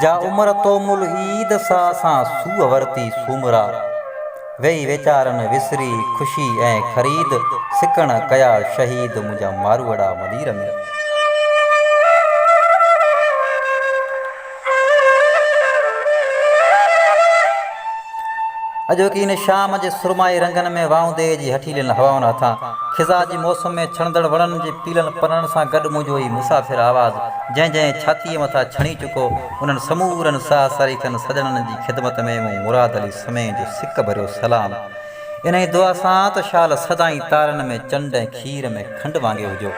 جا عمر تو مل عيد سا اسان سوء ورتي سومرا ويئي ويچارن وسري خوشي ۽ خريد سڪڻ ڪيا شهيد منهنجا ماروئڙا ملير ۾. اڄوڪي هن شام جي سرمائي رنگن ۾ واونديء جي هٺيلين هوائن هٿان، خزان جي موسم ۾ ڇڻندڙ وڻن جي پيلن پنن سان گڏ منهنجو هي مسافر آواز جنهن جنهن ڇاتيء مٿان ڇڻي چڪو، انهن سمورن ساهه سريڪن سڄڻن جي خدمت ۾ مون مراد علي سمين جو سڪ ڀريو سلام انهيء دعا سان ته شال سدائين تارن ۾ چنڊ ۽ کير ۾ کنڊ وانگي هجو.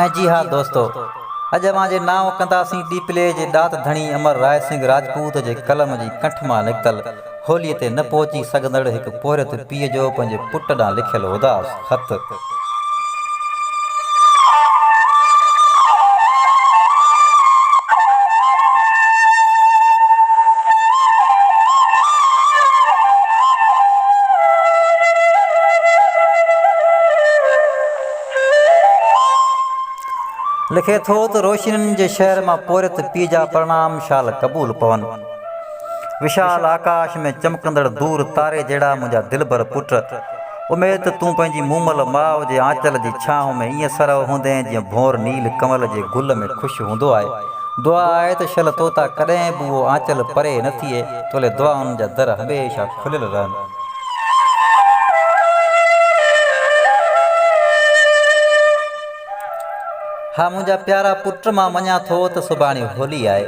۽ جي ها دوستو! اڄ اوهان جي نانء ڪنداسين ڏيپلي جي ڏات ڌڻي امر راء سنگهه راجپوت جي قلم جي ڪنٺ مان نڪتل کوليء تي نه پهچي سگهندڙ هڪ پورهيت پيء جو پنهنجي پٽ ڏانهن لکيل اداس خط. لکي ٿو ته روشنين جي شهر مان پورهيت پيء جا پرڻام شال قبول پون. وشال آڪاش ۾ چمڪندڙ دور تاري جهڙا منهنجا دلبر پٽ، اميد ته تون پنهنجي مومل ماء جي آنچل جي ڇانو ۾ ائين سرهو هوندين جيئن ڀونر نيل ڪمل جي گل ۾ خوش هوندو آهي. دعا آهي ته شل توتان ڪڏهن به اهو آنچل پري نه ٿئي، تولي دعائن جا در هميشه کليل رهن. ها منهنجا پيارا پٽ مان مڃان ٿو ته سڀاڻي هولي آهي.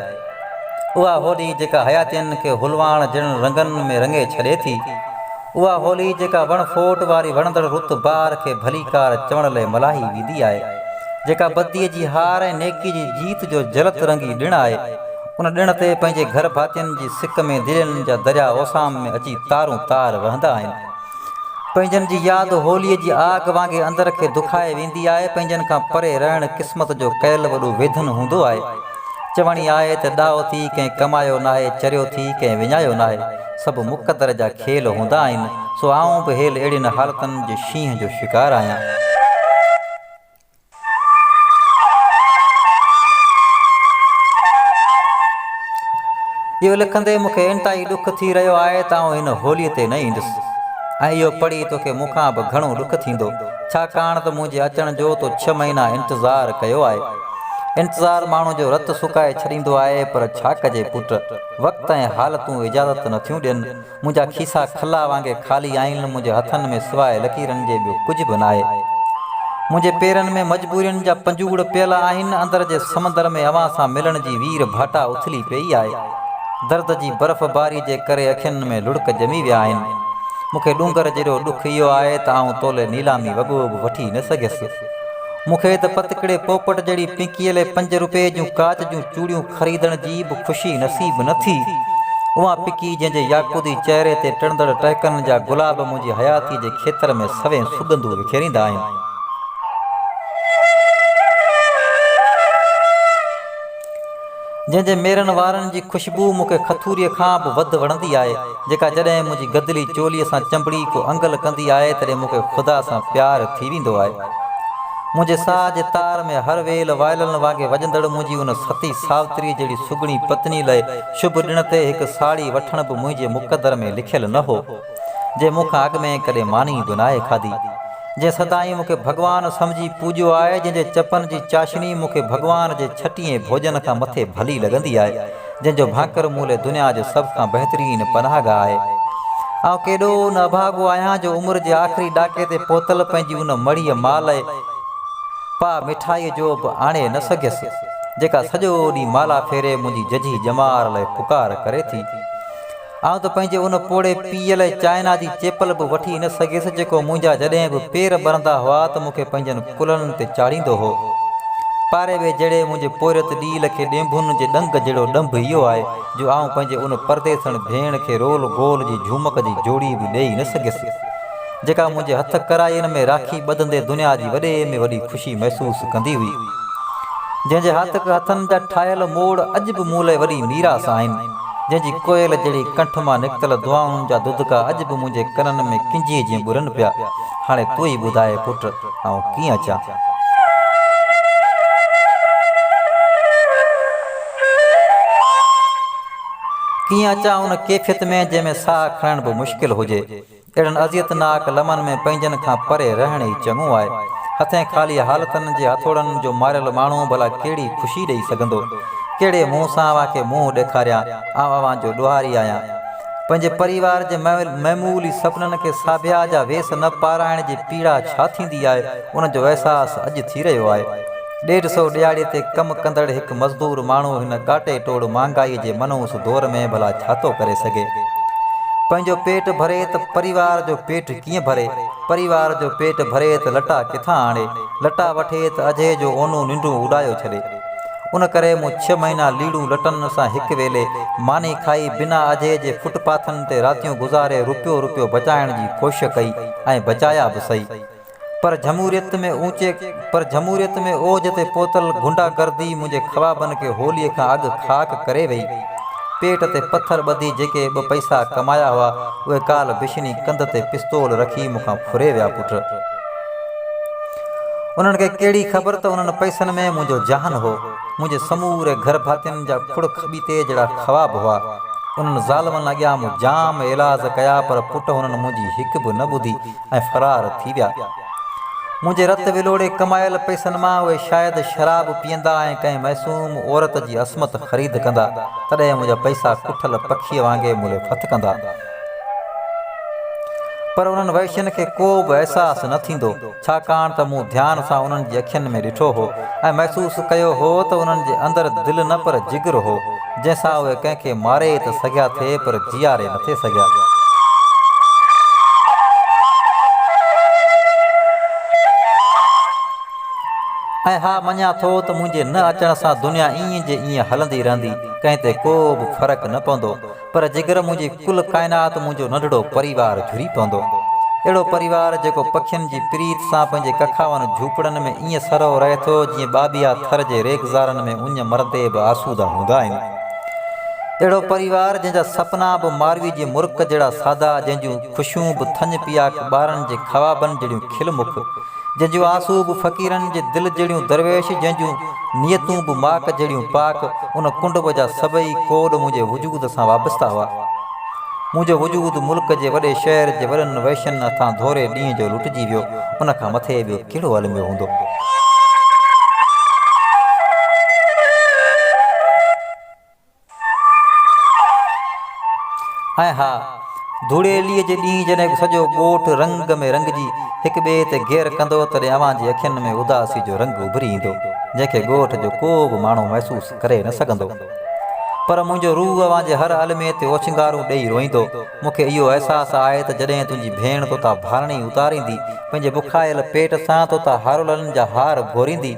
اها هولي جيڪا حياتين کي هولواڻ جهڙن رنگن ۾ رڱي ڇڏي ٿي. اها هولي جيڪا وڻ ڦوٽ واري وڻندڙ رت بار کي ڀليڪار چوڻ لئي ملهائي ويندي آهي. جيڪا بديء جي هار ۽ نيڪيء جي جيت جو جلت رنگي ڏڻ آهي. ان ڏڻ تي پنهنجي گهر ڀاتين جي سڪ ۾ دلين جا درياء اوسام ۾ اچي تارون تار وهندا آهن. پنهنجن جي ياد هوليء جي آگ وانگي اندر کي دکائي ويندي آهي. پنهنجن کان پري رهڻ قسمت جو ڪيل وڏو ويڌن هوندو آهي. چوڻي آهي ته ڏاهو ٿي ڪنهن ڪمايو ناهي، چريو ٿي ڪنهن وڃايو ناهي. سڀ مقدر جا کيل هوندا آهن، سو آئون به هيل اهڙين حالتن جي شينهن جو شڪار آهيان. اهو لکندي مون کي انتهائي ڏک ٿي رهيو آهي ته آئون هن هوليء تي نه ايندس ۽ اهو پڙهي توکي مون کان به گهڻو ڏک ٿيندو، ڇاڪاڻ ته منهنجي اچڻ جو تو ڇهه مهينا انتظار ڪيو آهي. انتظار ماڻهو جو رت سڪائي ڇڏيندو آهي پر ڇا ڪجي پٽ، وقت ۽ حالتون اجازت نٿيون ڏين. منهنجا کيسا کلا وانگي خالي آهن، منهنجي هٿن ۾ سواء لڪيرن جي ٻيو ڪجهه به ناهي. منهنجي پيرن ۾ مجبورين جا پنجوڙ پيل آهن، اندر جي سمندر ۾ اوهان سان ملڻ جي وير ڀاٽا اٿلي پيئي آهي. درد جي برف باري جي ڪري اکين ۾ لڙڪ ڄمي ويا آهن. مون کي ڏونگر جيڏو ڏک اهو آهي ته آئون تولي نيلامي وڳو به وٺي نه سگهيس. مون کي ته پتڪڙي پوپٽ جهڙي پنڪيلي پنج روپئي جون ڪاچ جون چوڙيون خريدڻ جي به خوشي نصيب نه ٿي. اها پکي جنهن جي ياقوتي چهري تي ٽڙندڙ ٽهڪن جا گلاب منهنجي حياتيء جي کيتر ۾ سوين سڳنڌون وکيريندا آهن. جنهن جي ميرن وارن جي خوشبوء مون کي کٿوريء کان به وڌ وڻندي آهي. جيڪا جڏهن منهنجي گدلي چولي سان چنبڙي ڪو انگل ڪندي آهي تڏهن مون کي خدا سان پيار ٿي ويندو آهي. منهنجي ساهه جي تار ۾ هر ويل وائلن وانگي وڄندڙ منهنجي ان ستي ساوتري جهڙي سگهڙي پتني لئه شڀ ڏڻ تي هڪ ساڙهي وٺڻ به منهنجي مقدر ۾ لکيل نه هو جنهن مون کان اڳ ۾ ڪڏهن ماني به ناهي کاڌي جنهن سدائين مون کي ڀڳوان سمجهي پوڄيو آهي جنهن جي چپن جي چاشني مون کي ڀڳوان جي ڇٽيهين ڀوڄن کان مٿي ڀلي لڳندي آهي. جنهن جو ڀانڪر مون لئه دنيا جو سڀ کان بهترين پناهگاهه آهي. آئون ڪيڏو نه اڀاڳو آهيان جو عمر جي آخري ڏاڪي تي پهتل پنهنجي ان مڙهيء مان لئه پاء مٺائيء جو به آڻي نه سگهيس، جيڪا سڄو ڏينهن مالا ڦيري منهنجي ججهي ڄمار لئه پڪار ڪري ٿي. آئون ته پنهنجي ان پوڙهي پيء لاء چائنا جي چيپل به وٺي نه سگهيس جيڪو منهنجا جڏهن به پير ٻرندا هئا ته مون کي پنهنجن ڪلهن تي چاڙهيندو هو. پاري ويهه جهڙي منهنجي پورهيت ڏيل کي ڏينڀن جي ڏنگ جهڙو ڏنڀ اهو آهي جو آئون پنهنجي ان پرديسڻ ڀيڻ کي رول گول جي جهومڪ جي جوڙي به ڏيئي نه سگهيس جيڪا منهنجي هٿ ڪرائين ۾ راکي ٻڌندي دنيا جي وڏي ۾ وڏي خوشي محسوس ڪندي هئي جنهن جي هاتڪ هٿن جا ٺاهيل موڙ اڄ به مون لاء وڏي ميراث آهن. جنهن جي ڪوئل جهڙي ڪنٺ مان نڪتل دعائن جا دودڪا اڄ به منهنجي ڪنن ۾ ڪنجهي جيئن ٻرن پيا. هاڻي تون ئي ٻڌاء پٽ، آئون ڪيئن اچان؟ ڪيئن اچان ان ڪيفيت ۾ جنهن ۾ ساهه کڻڻ به مشڪل هجي. اهڙن اذيتناڪ لمحن ۾ پنهنجن کان پري رهڻ ئي چڱو آهي. هٿين خالي حالتن جي هٿوڙن جو ماريل ماڻهو ڀلا ڪهڙي خوشي ڏئي سگهندو؟ ڪهڙي منهن سان اوهان کي منهن ڏيکاريان؟ آئون اوهان جو ڏوهاري آهيان. پنهنجي پريوار جي معمولي سپنن کي ساڀيا جا ويس نه پارائڻ جي پيڙا ڇا ٿيندي آهي، ان جو احساس اڄ ٿي رهيو آهي. ڏيڍ سو ڏيهاڙي تي ڪم ڪندڙ هڪ مزدور ماڻهو هن ڪاٽي ٽوڙ مهانگائي جي منحوس دور ۾ ڀلا ڇا ٿو ڪري سگهي؟ پنهنجو پيٽ ڀري ته پريوار جو پيٽ ڪيئن ڀري؟ پريوار جو پيٽ ڀري ته لٽا ڪٿان آڻي؟ لٽا وٺي ته اجهي جو اونو ننڊون اڏايو ڇڏي. ان ڪري مون ڇهه مهينا ليڙون لٽن سان هڪ ويلي ماني کائي بنا اجهي جي فٽ پاٿن تي راتيون گذاري روپيو روپيو بچائڻ جي ڪوشش ڪئي ۽ بچايا به سهي. پر جمهوريت ۾ اوچي پر جمهوريت ۾ اوج تي پهتل غنڊا گردي منهنجي خوابن کي هوليء کان اڳ خاڪ ڪري وئي. پيٽ تي پٿر ٻڌي جيڪي ٻه پئسا ڪمايا هئا، اهي ڪالهه بشني ڪنڌ تي پستول رکي مون کان ڦري ويا پٽ! انهن کي ڪهڙي خبر ته انهن پئسن ۾ منهنجو جهان هو، منهنجي سموري گهر ڀاتين جا کڙ کٻيتي جهڙا خواب هئا. انهن ظالمن اڳيان مون جام ايلاز ڪيا پر پٽ هنن منهنجي هڪ به نه ٻڌي. ۽ فرار ٿي ويا. منهنجي رت ولوڙي ڪمايل پئسن مان اهي شايد شراب پيئندا ۽ ڪنهن معصوم عورت جي عصمت خريد ڪندا، تڏهن منهنجا پئسا ڪٺل پکيء وانگي ملي ڦٿ ڪندا. پر انهن وحشين کي ڪو به احساس نه ٿيندو، ڇاڪاڻ ته مون ڌيان سان انهن جي اکين ۾ ڏٺو هو ۽ محسوس ڪيو هو ته انهن جي اندر دل نه پر جگر هو. جنهن سان اهي ڪنهن کي ماري ته سگهيا ٿي پر جياري نه ٿي سگهيا. ۽ ها مڃان ٿو ته منهنجي نه اچڻ سان دنيا ايئن جي ايئن هلندي رهندي ڪنهن تي ڪو به فرق نه پوندو پر جيڪر منهنجي ڪل ڪائنات منهنجو ننڍڙو پريوار جھري پوندو. اهڙو پريوار جيڪو پکين جي پريت سان پنهنجي ڪکاون جھوپڙن ۾ ائين سرهو رهي ٿو جيئن ٻاٻيها ٿر جي ريگزارن ۾ اڃ مرندي به آسوده هوندا آهن. اهڙو پريوار جنهن جا سپنا به ماروي جي مرڪ جهڙا سادا جنهن جون خوشيون به ٿڃ پياڪ ٻارن جي خوابن جهڙيون کل مک جنهن جون آسون به فقيرن جي دل جهڙيون درويش جنهن جون نيتون به ماڪ جهڙيون پاڪ ان ڪنڊب جا سڀئي ڪوڏ منهنجي وجود سان وابسته هئا منهنجو وجود ملڪ جي وڏي شهر جي وڏن وحشين هٿان ڌوري ڏينهن جو لٽجي ويو ان کان مٿي ٻيو ڪهڙو الميو هوندو. ۽ ها، ڌوڙيلي جي ڏينهن جڏهن سڄو ڳوٺ رنگ ۾ رنگجي هڪ ٻئي تي گير ڪندو تڏهن اوهان جي اکين ۾ اداسي جو رنگ اڀري ايندو جنهن کي ڳوٺ جو ڪو به ماڻهو محسوس ڪري نه سگهندو پر منهنجو روح اوهان جي هر المي تي اوڇنگارون ڏيئي روئيندو مون کي اهو احساس آهي ته جڏهن تنهنجي ڀيڻ توتان ڀاڻي اتاريندي پنهنجي بکايل پيٽ سان توتان هارولن جا هار ڀوريندي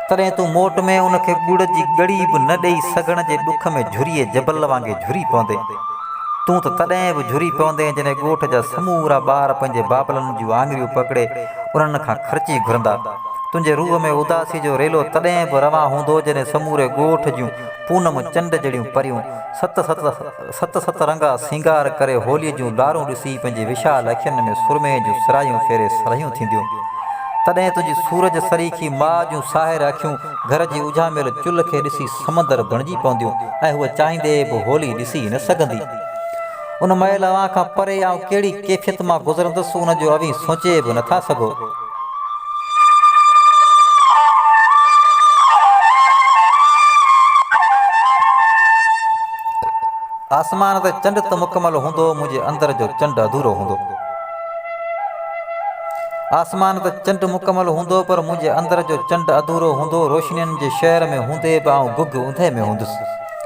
تڏهن تون موٽ ۾ ان کي ڳڙ جي ڳڙي به نه ڏيئي سگهڻ جي ڏک ۾ جھريء جبل وانگي جھري پوندين. تون ته تڏهن به جھري پوندين جڏهن ڳوٺ جا سمورا ٻار پنهنجي بابلن جون آڱريون پڪڙي انهن کان خرچي گھرندا. تنهنجي روح ۾ اداسي جو ريلو تڏهن به روان هوندو جڏهن سموري ڳوٺ جون پونم چنڊ جھڙيون پريون ست ست ست ست رنگا سينگار ڪري هوليء جون لارون ڏسي پنهنجي وشال اکين ۾ سرمي جون سرايون ڦيري سرهيون ٿينديون. تڏهن تنهنجي سورج سريکي ماء جون ساحر اکيون گهر جي اجهاميل چلهه کي ڏسي سمندر بڻجي پونديون ۽ هوء چاهيندي به هولي ڏسي نه سگهندي. ان مئل اوهان کان پري آئون ڪهڙي ڪيفيت مان گذرندس ان جو اوهين سوچي به نٿا سگهو. آسمان تي چنڊ ته مڪمل هوندو منهنجي اندر جو چنڊ اڌورو هوندو آسمان تي چنڊ مڪمل هوندو پر منهنجي اندر جو چنڊ اڌورو هوندو روشنين جي شهر ۾ هوندي به آئون گگ اوندهه ۾ هوندس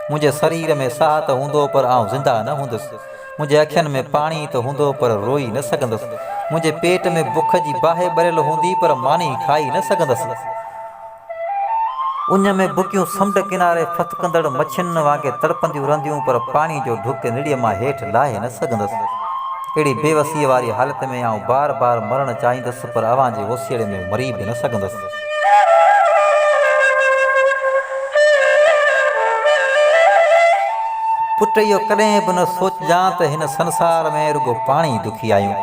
منهنجي سرير ۾ ساهه ته هوندو پر آئون زنده نه هوندس منهنجي اکين ۾ پاڻي ته هوندو پر روئي نه سگهندس. منهنجي پيٽ ۾ بک جي باهه ٻريل هوندي پر ماني کائي نه سگهندس. اڃ ۾ بڪيون سمنڊ ڪناري ڦٿڪندڙ مڇين وانگي تڙپنديون رهنديون پر پاڻي جو ڍڪ نڙيء مان هيٺ لاهي نه سگهندس. اهڙي بيوسيء واري حالت ۾ آئون بار بار مرڻ چاهيندس پر اوهان جي اوسيئڙي ۾ مري به نه سگهندس. پٽ اهو ڪڏهن به نه سوچجان ته هن سنسار ۾ رڳو پاڻ ئي دکي آهيون.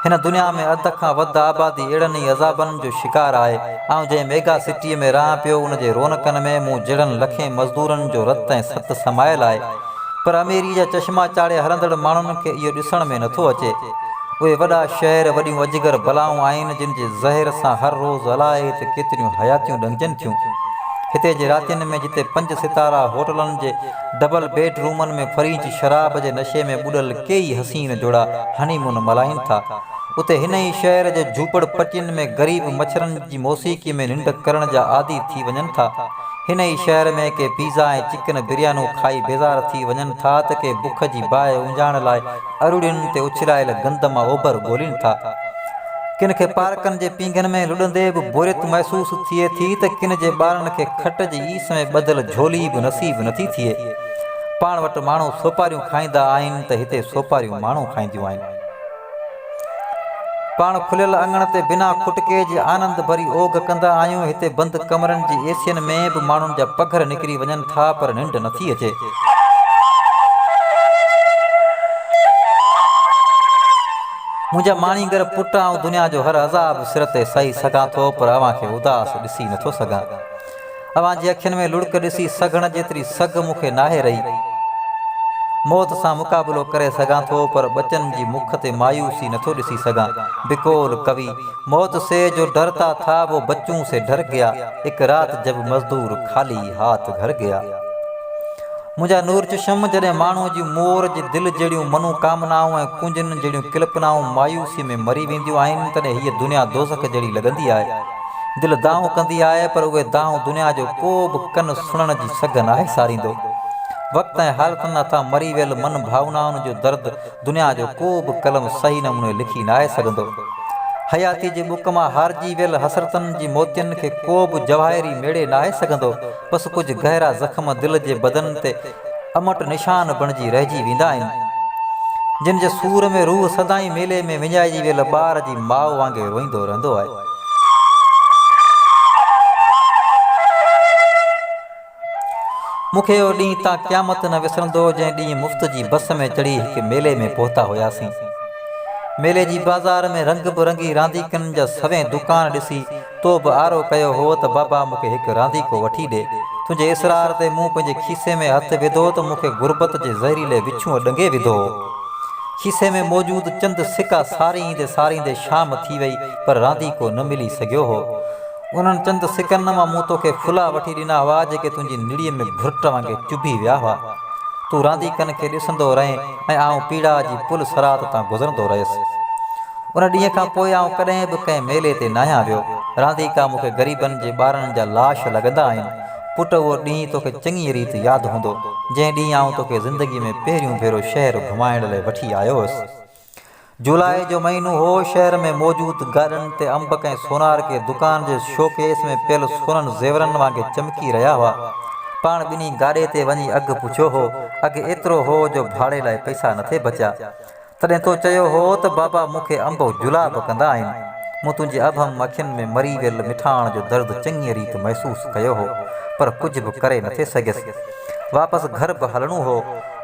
هن دنيا ۾ اڌ کان وڌ آبادي اهڙن ئي عذابن جو شڪار آهي. آئون جنهن ميگا سٽيء ۾ رهان پيو ان جي رونقن ۾ مون جهڙن لکين مزدورن جو رت ۽ ست سمايل آهي. پر اميريء جا چشما چاڙهي هلندڙ ماڻهن کي اهو ڏسڻ ۾ نٿو اچي. اهي وڏا شهر وڏيون اجگر بلائون آهن، جن جي زهر سان هر روز الائي ته ڪيتريون حياتيون ڏنگجن ٿيون. هتي جي راتين ۾ جتي پنج ستارا هوٽلن جي ڊبل بيڊ رومن ۾ فرينچ شراب جي نشي ۾ ٻڏل ڪيئي حسين جوڙا هني مون ملهائين ٿا، اتي هن ئي شهر جي جهوپڙ پٽين ۾ غريب مڇرن جي موسيقي ۾ ننڊ ڪرڻ جا عادي ٿي وڃن ٿا. هن ئي شهر ۾ ڪي پيزا ۽ چڪن بريانون کائي بيزار ٿي وڃن ٿا ته ڪي بک جي باهه اونجهائڻ لاء اروڙين تي اڇلايل گند مان اوڀر ڳولين ٿا. ڪن کي پارڪن جي پينگهن ۾ لڏندي به بوريت محسوس ٿئي ٿي ته ڪن جي ٻارن کي کٽ جي ايس ۾ ٻڌل جهولي به نصيب نٿي ٿئي. پاڻ وٽ ماڻهو سوپاريون کائيندا آهن ته هتي سوپاريون ماڻهو کائينديون آهن. پاڻ کليل اڱڻ تي بنا کٽڪي جي آنند ڀري اوگهه ڪندا آهيون. هتي بند ڪمرن جي اي سين ۾ به ماڻهن جا پگهر نڪري وڃن ٿا پر ننڊ نه ٿي اچي. منهنجا ماڻيگر پٽ آئون دنيا جو هر عذاب سر تي سهي سگهان ٿو پر اوهان کي اداس ڏسي نه ٿو سگهان. اوهان جي اکين ۾ لڙڪ ڏسي سگهڻ جيتري سگهه مون کي ناهي رهي. موت سان مقابلو ڪري سگهان ٿو پر ٻچن جي مک تي مايوسي نٿو ڏسي سگهان. بقول ڪوي، موت سي جو ڊرتا ٿا وو بچون سي ڊر گيا، اک رات جب مزدور خالي هاٿ گهر گيا. منهنجا نور چشم جڏهن ماڻهو جي مور جي دل جهڙيون منو ڪامنائون ۽ ڪونجن جهڙيون ڪلپنائون مايوسي ۾ مري وينديون آهن تڏهن هيء دنيا دوزخ جهڙي لڳندي آهي. دل دانهون ڪندي آهي پر اهي دانهون دنيا جو ڪو به ڪن سڻڻ جي سگهه ناهي ساريندو. وقت ۽ حالتن هٿان مري ويل من ڀاونائن جو درد دنيا جو ڪو به قلم صحيح نموني لکي ناهي سگهندو. حياتيء جي ٻڪ مان هارجي ويل حسرتن جي موتين کي ڪو به جواهري ميڙي ناهي سگهندو. بس ڪجهه گهرا زخم دل جي بدن تي امٽ نشان بڻجي رهجي ويندا آهن. جن جي سور ۾ روح سدائين ميلي ۾ وڃائجي ويل ٻار جي ماء وانگي روئيندو رهندو آهي. مون کي اهو ڏينهن تا قيامت نه وسرندو جنهن ڏينهن مفت جي بس ۾ چڙهي هڪ ميلي ۾ پهتا هياسين. ميلي جي بازار ۾ رنگ به رنگي رانديڪن جا سوين دوڪان ڏسي تو به آرو ڪيو هو ته بابا مون کي هڪ رانديڪو وٺي ڏي. تنهنجي اصرار تي مون پنهنجي کيسي ۾ هٿ وڌو ته مون کي غربت جي زهريلي وڇونء ڏنگي وڌو هو. کيسي ۾ موجود چند سڪا ساريندي ساريندي شام ٿي وئي پر رانديڪو نه ملي سگهيو هو. انهن چند سڪن مان مون توکي ڦلا وٺي ڏنا هئا جيڪي تنهنجي نڙيء ۾ ڀرٽ وانگي چڀي ويا هئا. تون رانديڪن کي ڏسندو رهين ۽ آئون پيڙاء جي پل صراط تان گذرندو رهيس. ان ڏينهن کان پوء آئون ڪڏهن به ڪنهن ميلي تي ناهيان ويو. رانديڪا مون کي غريبن جي ٻارڙن جا لاش لڳندا آهن. پٽ اهو ڏينهن توکي چڱيء ريت ياد هوندو، جنهن ڏينهن آئون توکي زندگيء ۾ پهريون ڀيرو شهر گهمائڻ لاء وٺي آيو هوس. جولاء جو مهينو هو، شهر ۾ موجود گاڏن تي انبڪ ۽ سونار ڪي دڪان جي شو ڪيس ۾ پيل سونن زيورن وانگي چمڪي رهيا هئا. پاڻ ٻنهي گاڏي تي وڃي اگهه پڇيو هو. اگهه ايترو هو جو ڀاڙي لاء پئسا نٿي بچيا. تڏهن تو چيو هو ته بابا مون کي انب و جلاب ڪندا آهن. مون تنهنجي اڀم اکين ۾ مري ويل مٺاڻ جو درد چڱيء ريت محسوس ڪيو هو، پر ڪجهه به ڪري نٿي سگهيس. واپس گهر به هلڻو هو.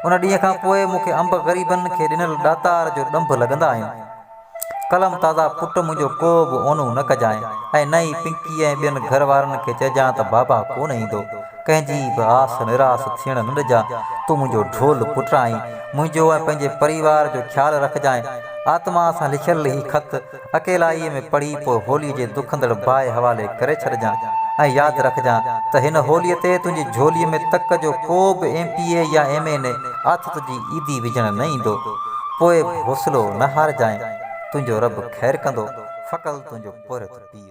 ان ڏينهن کان پوء مون کي انب غريبن کي ڏنل ڏاتار جو ڏنڀ لڳندا آهن. قلم تازا پٽ منهنجو ڪو به اونو نه ڪجانء ۽ نه ئي پنڪيء ۽ ٻين گهر وارن کي چئجانء ته بابا ڪونه ايندو. ڪنهن جي به آس نراس ٿيڻ نه ڏجانء. تون منهنجو ڍول پٽ آهين. منهنجو ۽ پنهنجي پريوار جو خيال رکجانء. آتما سان لکيل هي خط اڪيلائيء ۾ پڙهي پوء هوليء جي دکندڙ باهه حوالي ڪري ڇڏجان ۽ ياد رکجان ته هن هوليء تي تنهنجي جهوليء ۾ تڪ جو ڪو به ايم پي اي يا ايم اين اي آٿو تنهنجي عيدي وجهڻ نه ايندو. پوء به حوصلو نه هارجانء. تنهنجو رب خير ڪندو. فڪل تنهنجو پورهيت پيء.